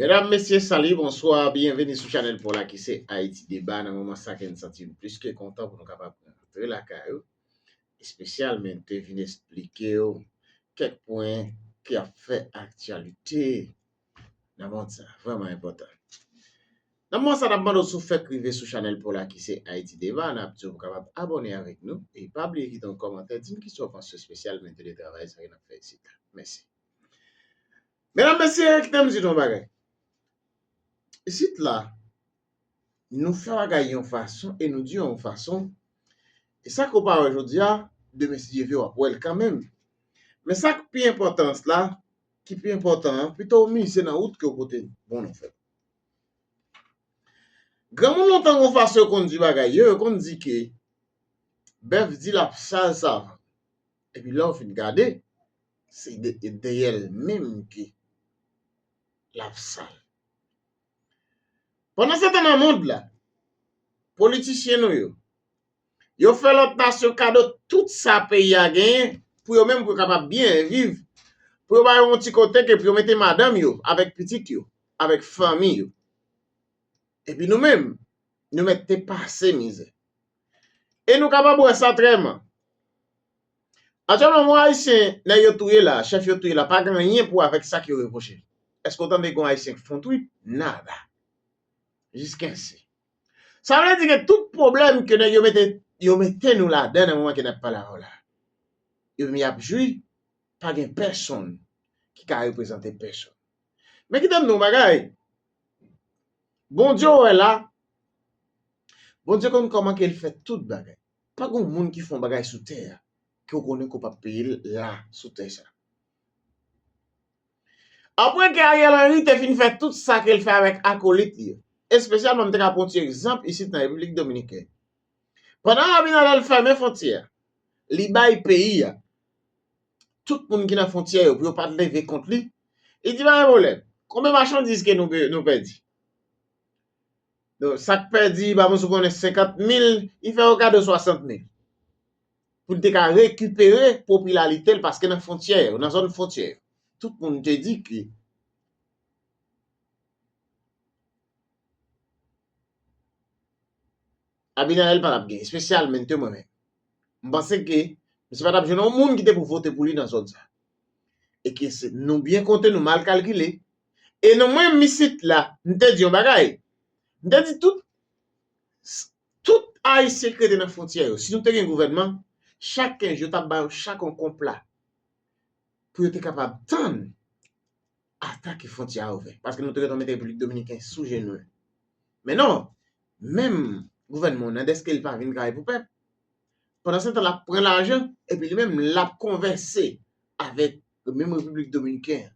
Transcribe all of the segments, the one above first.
Medam, mesye, sali, bonswa, byenveni sou chanèl paw la ki se Ayiti Deba. Nan moman sa ke n santi n plis ke kontan pou nou kapab rantre lakay ou, espesyalmen te vin esplike w kèk pwen ki ap fè aktyalite nan mond sa, vrèman enpòtan. Nan moman sa n ap mande w si w fèk rive sou chanèl paw la ki se Ayiti Deba, n ap di w pou w kapab abòne avèk nou e pa bliye kite yon kòmantè, di n kisa w panse espesyalmen de travay sa ke n ap fè isit la. Mèsi. Medam mesye kite m di nou yon bagay. Isit la, nou fè bagay yon fason e nou di yon fason, e sa ke w pa wè jodi a, demen si Dye vle w ap wè l kanmenm. Men sa k pi enpòtans la, ki pi enpòtan an, pito w mize nan wout ke w pote bon nan fè. Granmoun lontan gen yon fason yo konn di bagay yo, yo konn di ke bèf di l ap sal savan. Epi lè ou fin gade, se deyè l menm ke l ap sal. Pandansetan nan mond la, politisyen nou yo, yo fè lòt nasyon kado tout sa peyi a genyen pou yo menm pou yo kapab byen viv, pou yo ba yo yon ti kote ke pou yo mete madanm yo avèk pitit yo, avèk fanmi yo. Epi nou menm, nou mèt te pase mizè. E nou kapab wè sa trè man. Aktyèlman yon Ayisyen nèg yo touye la, chèf yo touye la pa gen anyen pou wè avèk sa k yo repwoche l. Èske w tande gen yon Ayisyen k fè yon twit? Nada. Jiskesi. Sa vle di gen tout pwoblèm ke nèg yo mete yo mete nou ladan nan moman ke n ap pale avè w la. Yo menm y ap jwi pa gen pèsonn ki ka reprezante pèsonn. Men kite m di w yon bagay. Bondye wè la, Bondye konn kòman ke l fè tout bagay. Pa gen yon moun ki fè yon bagay sou tè a ke w konnen ke w p ap peye l la sou tè sa. Apre ke Ariel Henry te fin fè tout sa ke l fè avèk akolit li yo, espesyalman m te ka pran yon ti egzanp isit nan Repiblik Dominikèn. Pandan Abinader fèmen fwontyè a, li bay peyi a tout moun ki nan fontyè yo pou yo pat leve kont li, li di pa gen pwoblèm, konbyen machandiz ke nou nou pèdi? Sak pèdi ba moun sou konnen 50 mil, li fè yo kado 60 mil. Pou li te ka rekipere popilalite l paske nan fontyè yo, nan zòn fontyè yo, tout moun te di ke Abinader li pa tap gen espesyal men te mwen menm m panse ke misye pa tap jwenn yon moun ki te pou vote pou li nan zòn sa e ke se nou byen konte nou mal kalkile e nou mwen menm isit la m te di yon bagay m te di tout tout ayisyen ki rete nan fwontyè yo si nou te gen gouvènman chak 15 jou yo tap ba yo chak yon konpla pou yo te kapab tann. ata ke fwontyè a ouvè. Paske nou te gentan mete Repiblik Dominiken sou jenou l. Men non! Menm gouvènman w nan dèske li pa vin travay pou pèp, pandansetan l ap pran lajan epi li menm l ap konvèse avèk menm Repiblik Dominiken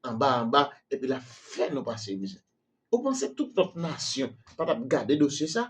an anba anba epi l ap fè nou pase mizè. Ou panse tout lòt nasyon pa t ap gade dosye sa?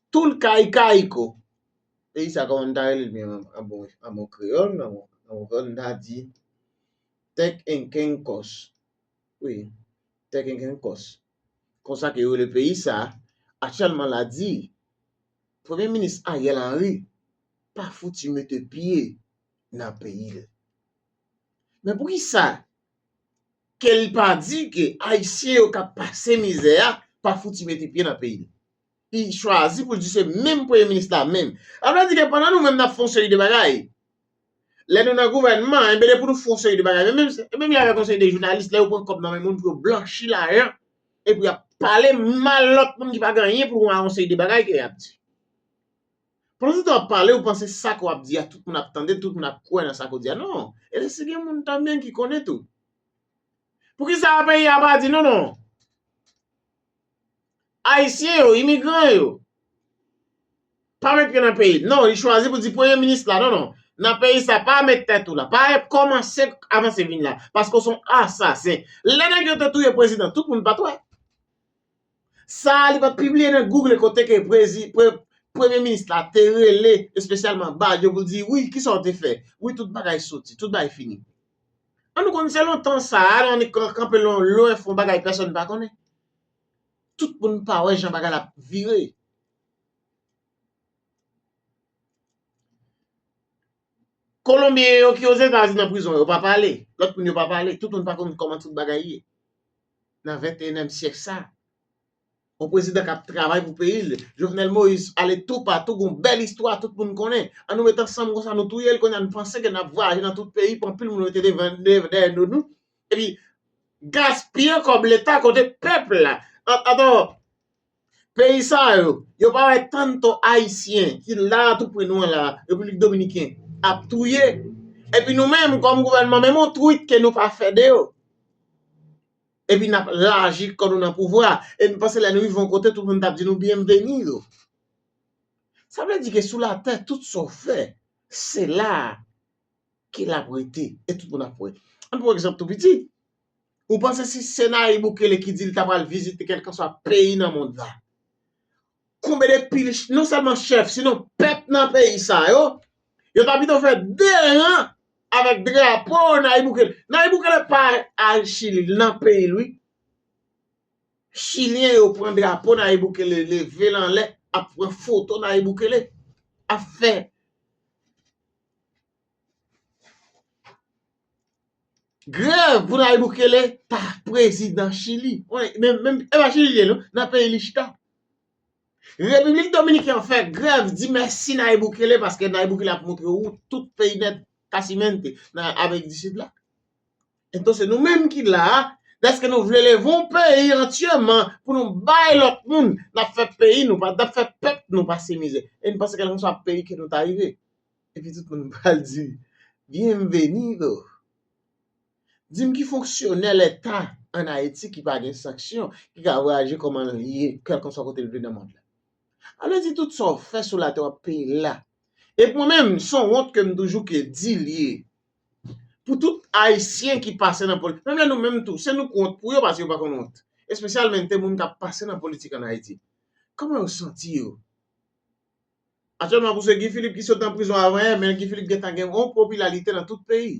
Toul kay kayko. Peyi sa koman m ta rele l menm an bon an bon kreyòl an bon kreyòl m ta di tèkenkènkòs wi tèkenkènkòs konsa ke yo rele peyi sa aktyèlman la di premye minis Ariel Henry pa fouti mete pye nan peyi l men pou kisa ke l pa di ke ayisyen yo k ap pase mizè a pa fouti mete pye nan peyi l ki chwazi pou l di se menm premye minis la menm. Sa vle di ke pandan nou menm n ap fè yon seri de bagay, lè nou nan gouvènman, enben depi nou fè yon seri de bagay, men menm se menm jan avèk yon seri de jounalis, lè yo pran kòb nan men moun pou yo blanchi lajan, epi y ap pale mal lòt moun ki pa gen anyen pou l wè ak yon seri de bagay ke y ap di. Pandansetan w ap pale, ou panse sa ke w ap di a tout moun ap tande l, tout moun ap kwè nan sa ke w di a. Non! Epi si gen moun tanbyen ki konnen tou. Poukisa peyi a pa di non non? Ayisyen yo, imigran yo, pa met pye nan peyi l. Non, li chwazi pou di premye minis la, non, non, nan peyi sa, pa met tèt ou la, pa kòmanse avanse vin la, paske w se yon asasen. Lè nèg yo te touye prezidan, tout moun pa t wè. Sa a li pa t pibliye nan Google kote ke premye minis la te rele espesyalman Badio pou l di, wi, kisa w te fè? Wi, tout bagay soti, tout bagay fini. An nou konn se lontan sa a lè annik kanpe lwen fon bagay pèsòn pa konnen. Tout moun pa wè jan bagay la ap vire. Kolonbyen yo ki Ozetazini nan prizon yo pa pale. Lòt moun yo pa pale. Tout moun pa konn kòman tout bagay ye nan venteyenèm syèk sa a. On prezidan k ap travay pou peyi l, Jovenel Moïse ale toupatou gon bèl istwa tout moun konnen. An nou met ansanm konsa nou touye l kounye a n panse ke n ap vwayaje nan tout peyi pou anpil moun rete devan dèyè do nou epi gaspiye kòb leta kote pèp la ap atò peyi sa yo yo pa wè tanto ayisyen ki la a tou pre nou an la Repiblik Dominiken ap touye epi nou menm kòm gouvènman menm on twit ke nou pa fè de yo. Epi n ap laji kò nou nan pouvwa a, e nou panse lè nou rive yon kote tout moun t ap di nou byenveni yo. Sa vle di ke sou latè tout sa w fè, se la a ke l ap rete e tout moun ap wè. An n pran yon egzanp tou piti, ou panse si se Nayib Bukele ki di li ta pral vizite kèlkanswa peyi nan mond la, Konbe de pil non sèlman chèf si non pèp nan peyi sa yo, yo ta pito fè 2 ran avèk drapo Nayib Bukele. Nayib Bukele pa al chili li nan peyi l wi. Chilyen yo pran drapo Nayib Bukele leve l anlè ap pran foto Nayib Bukele ap fè. Grèv pou Nayib Bukele pa prezidan Chili. E pa Chili li ye non, nan peyi li chita. Repiblik Dominiken fè grèv di mèsi Nayib Bukele paske Nayib Bukele ap montre wout tout peyi nèt Casimente nan Amerik di Sid la. Entò se nou menm ki la a, dèske nou vle leve yon peyi antyèman pou nou bay lòt moun, n ap fè peyi nou, n ap fè pèp nou pase mizè. E nou panse kèlkenswa peyi ke nou ta rive, Epi tout moun pral di, Bienvenido! Di m ki fonksyonè leta an Ayiti ki pa gen sanksyon ki ka vwayaje kòman l ye kèlkanswa kote l vle nan mond la? A vle di tout sa w fè sou latè w ap peye l la. E pou mwen menm, s on wont ke m toujou ke di l ye pou tout Ayisyen ki pase nan politik, menm lè nou menm tou, se nou k wont pou yo paske yo pa konn wont. Espesyalmente moun k ap pase nan politik an Ayiti. Kòman yo santi yo? Aktyèlman pou se Guy Philippe ki sot nan prizon avan yè, men Guy Philippe gentan gen yon popilalite nan tout peyi.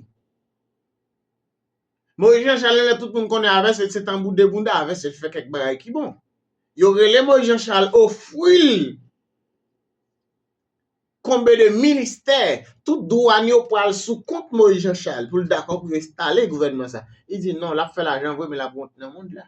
Moïse Jean Charles lè tout moun konnen avès el se tanbou 2 bounda avès el fè kèk bagay ki bon. Yo rele Moïse Jean Charles ofril konbe de ministè, tout dwàn yo pwal sou kont Moïse Jean Charles poul dakò poul enstale gouvènman sa. Li di non lap fè lajan vre men lap wont nan mond la.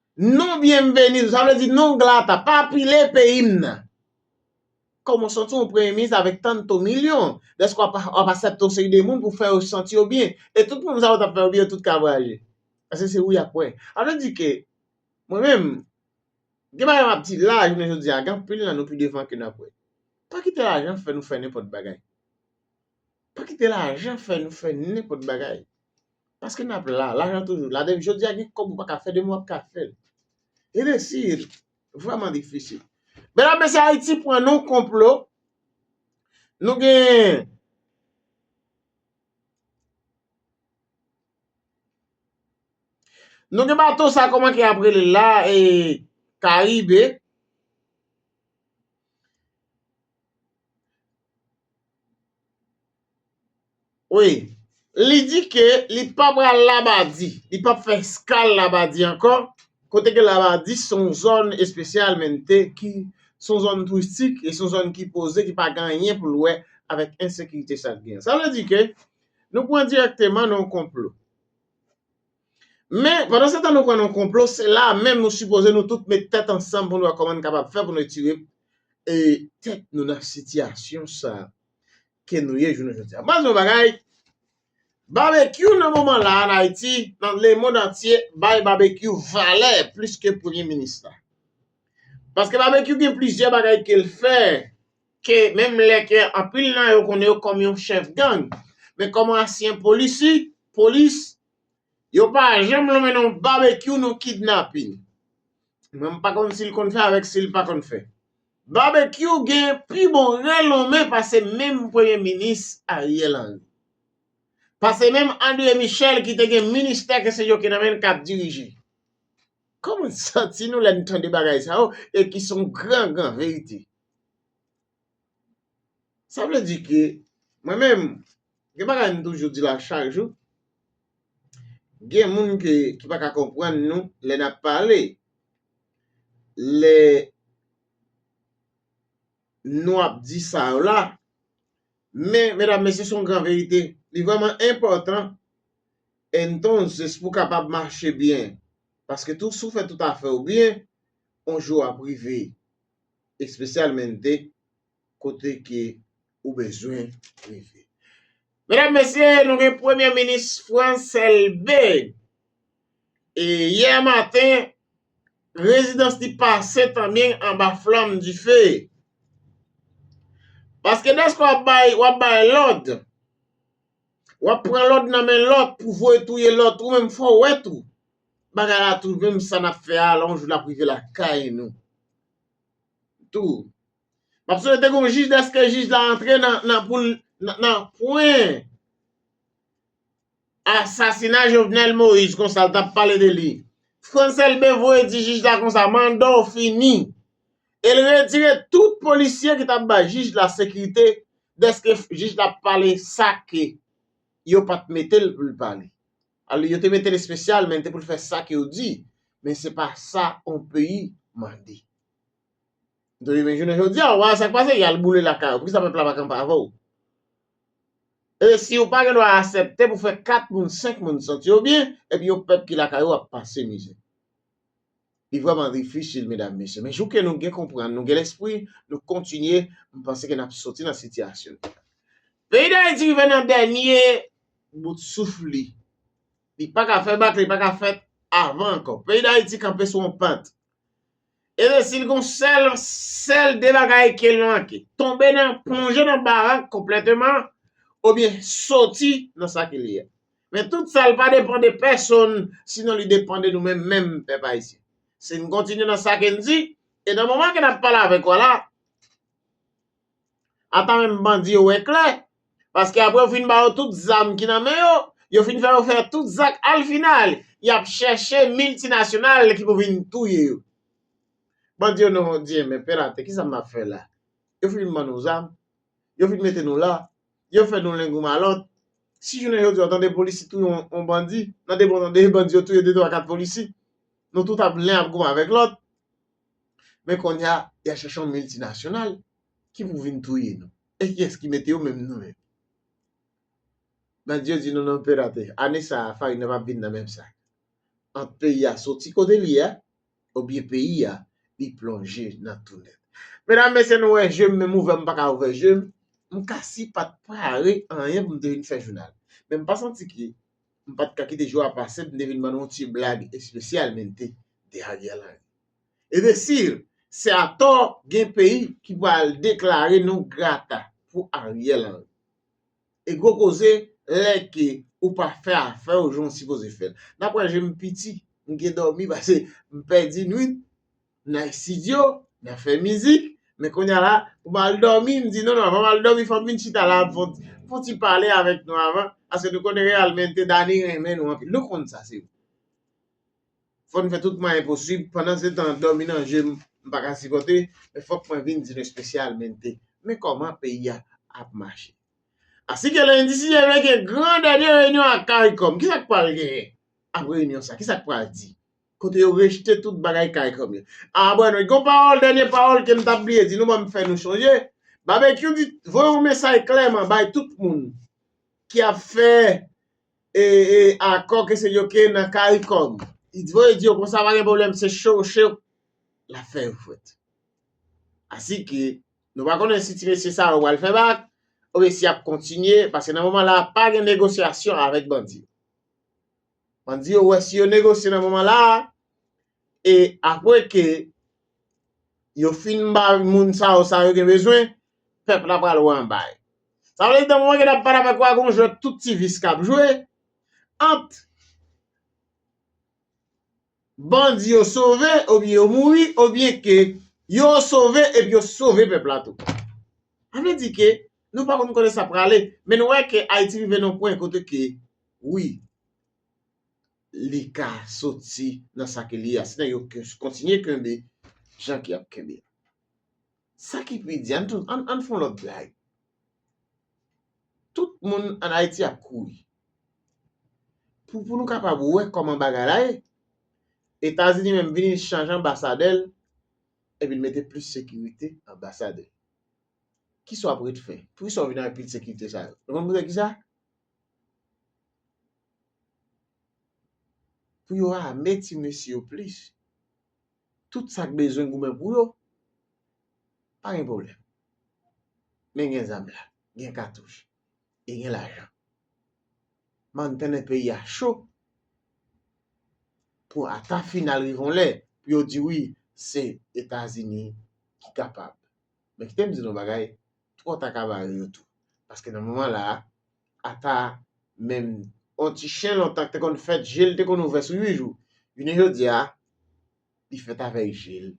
Non bienvenido, sa vle di non glata, pa pile peyi m nan. Kòman w santi w yon premye minis avèk tanto milyon? Dèske w ap asèpte yon seri de moun pou fè yo santi yo byen. E tout moun sa yo t ap fè yo byen yo tout ka vwayaje. Paske se ou y ap wè. Sa vle di ke mwen menm, gen bagay m ap di la jounen jodi a, gen anpil nan nou pi devan ke n ap wè. Pa kite lajan fè nou fè nenpòt bagay. Pa kite lajan fè nou fè nenpòt bagay. Paske nap la, lajan toujou la depi jodi a gen kòb ou paka fè demen wap ka fèl. E resi vrèman difisil. Medam mesye Ayiti pran nan yon konplo, nou gen Nou gen bato sa kòman ke ap rele la e karibe. Wi, li di ke li pa pral Labadi, li pap fè eskal Labadi ankò, kote ke Labadi se yon zòn espesyalmente ki se yon zòn touristik e se yon zòn ki poze, ki pa gen anyen pou l wè avèk ensekirite sa k gen. Sa vle di ke nou pran dirèkteman nan yon konplo. Men, pandansetan nou kwè nan konplo, se la a menm nou sipoze nou tout met tèt ansanm pou nou wè kòman n kapab fè pou nou etire tèt nou nan sitiyasyon sa a ke nou ye jounen jodi a. Baz yon bagay, Babekyou nan moman la a an Ayiti, nan lemond antye, bay Babekyou valè plis ke Premye Minis la. Paske Babekyou gen plizyè bagay ke l fè, ke menm lè ke anpil nan yo konnen yo kòm yon chèf gang, men kòm yon ansyen polisi, polis, Yo pa janm lonmen non babekyou non kidnapin. Mwen m pa konn sil konn fè avèk sil pa konn fè. Babekyou gen pi bon re lonmen pase menm premye minis Ariel Henry. Pase menm Andre Michel ki te gen ministè ke se yo ki nan menl kap dirije. Koman n santi nou lè n tande bagay sa yo e ki son gran gran verite. Sa vle di ke mwen menm gen bagay m toujou di la chak jou, gen moun ke ki pa ka konprann nou lè n ap pale, lè nou ap di sa yo la, men medam mesye se yon gran verite, li vrèman enpòtan entonces pou w kapab mache byen, paske tou si w fè tout afè w byen, yon jou ap rive. espesyalmente kote ke ou bezwen rive. Medam, mesye, nou gen premye minis Frantz Elbe e yè maten rezidans li pase tanmen anba flanm dife. Paske dèske w ap bay, w ap bay lòd, w ap pran lòd nan men lòt pou voye touye lòt ou menm fò w wè tou Bagay la tou menm sa nap fè a la yon jou lap rive lakay nou tou map swete gon jij deske jij la antre nan poul nan pwen asasina jovenel moïse konsa l tap pale de li frantz elbe voye di jij la konsa manda w fini el retire tout polisye ki tap bay jij la sekirite deske jij la pale sa ke yo pat metel poul pale. Alò yo te mete l espesyal men te pou l fè sa ke yo di, men se pa sa yon peyi mande. Dwe men jounen jodi a, wa sa k pase, y al boule lakay ou, poukisa pèp la pa kanpe avè w? E si ou pa gen dwa asèpte pou fè 4 moun, 5 moun santi yo byen, epi yon pèp ki lakay ou ap pase mizè? Li vreman difisil medam mesye men jou ke nou gen konprann nou gen lespri nou kontinye m panse ke nap soti nan sitiyasyon nou an. Peyi Dayiti rive nan dènye bout souf li. Li pa ka fè bak li pa ka fèt avan ankò. Peyi Dayiti kanpe sou yon pant. E de sil gon sèl sèl de bagay kel manke. Tonbe nan plonje nan barak konplèteman obyen soti nan sa ke li a. Men tout sa l pa depan de pèsonn sinon li depan de nou menm menm pèp ayisyen. Si n kontinye nan sa ke n di, e nan moman ke n ap pale avèk ou a la, ata menm bandi yo wè klè, paske apre yo fin ba yo tout zam ki nan men yo, yo fin fè yo fè tout zak al final y ap chèche miltinasyonal ki pou vin touye yo. Bandi yo nou di enben pè l atè kisa m ap fè la? Yo fin ban nou zam, yo fin mete nou la, Yo fè nou lengou malòt. Si jounen jodi a w tande polisi touye yon bandi, nan de bon nan de bandi yo touye de twa kat polisi, nou tout ap len ap goumen avèk lòt. Men konnya, y a chèche yon miltinasyonal ki pou vin touye nou. E kiyès ki mete yo menm nou menm? Bandi yo di nou non pirate. Ane sa a, farin nan pap vin nan menm sak. Ant peyi a soti kote l ye a, Obyen peyi a li plonje nan tou nèt. Medam mesye nou wè jem menm ouvè m paka ouvè jem, m ka si pat prepare anyen pou m te vin fè jounal. Men m pa santi ke m pat ka kite jou a pase pou m te vin ban nou yon ti blag espesyal men te de Ariel Henry. E de sir, se atò gen peyi ki pral deklare nou grata pou Ariel Henry. E gwo koze lè ke ou pa fè afè ou jan ou sipoze fèl. Nan pwen je m piti, m gen dòmi pase m pèdi nwit nan estidyo, nan fè mizik, men kounye a la pou m al dòmi m di non non avan m al dòmi fò m vin chita la fon ti pale avèk nou avan paske nou konnen reyalmente Dani renmen nou anpil nou konn sa se vre. Fò n fè tout mwayen posib, pandansetan dòmi nan je m m pa ka sipòte, men fòk mwen vin di nou espesyalmente men kòman peyi a ap mache. Asi ke lendi 6 janvye gen gran dènye reyinyon ak caricom, kisa k pral genyen ap reyinyon sa? Kisa k pral di? Kote yo rejte tout bagay caricom yo. Anbwènwèt gon pawòl dènye pawòl ke m t ap bliye di nou ban m fè nou chonje, Babekyou di voye yon mesay klèman bay tout moun ki ap fè e akò ke se yo ke nan caricom li voye di yo konsa pa gen pwoblèm se cho che lap fè yo fwèt asi ke nou pa konnen si ti mesye sa yo pral fè bak oubyen si yap kontinye paske nan moman la pa gen negosyasyon avèk bandi yo bandi yo wè si yo negosye nan moman la e apre ke yo fin ba moun sa yo sa yo gen bezwen, pèp la pral wè anba yo. Sa vle di nan moman ke n ap pale avèk ou a gen yon jwè tout ti vis k ap jwe ant bandi yo sove oubyen yo mouri oubyen ke yo sove epi yo sove pèp la tou. Sa vle di ke nou pa konn kote sa prale men nou wè ke Ayiti rive nan yon pwen kote ke wi. li ka soti nan sa ke li ye a, si nan yo kontinye kenbe jan ke yap kenbe a. Sa ki pi di, ann fon lòt blag. Tout moun an Ayiti ap kouri. Pou nou kapab wè kòman bagay la ye, Etazini menm vini li chanje anbasadè l, epi li mete plis sekirite nan anbasad li. Kisa w ap ret fè? Poukisa w vini avèk pil sekirite sa yo? Nou konn poukisa? Pou yo ame ti mesye yo plis. Tout sa k bezwen goumen pou yo, pa gen pwoblèm. Men gen zam la, gen katouch e gen lajan. M ann tande peyi a cho pou ata final rive yon lè pou yo di wi se Etazini ki kapab. Men kite m di nou yon bagay, twò ta ka bare yo tou. Paske nan moman la a, Apa menm yon ti chen lontan ki te konn fèt je l te konn ouvè sou 8 jou, jounen jodi a li fèt avèk je l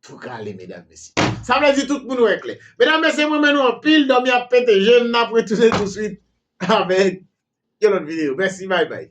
tou kale medam mesye. Sa vle di tout moun wè klè. Medam mesye mwen renmen nou anpil dòmi ap pete je m n ap retounen touswit avèk yon lòt videyo. Mèsi bay bay.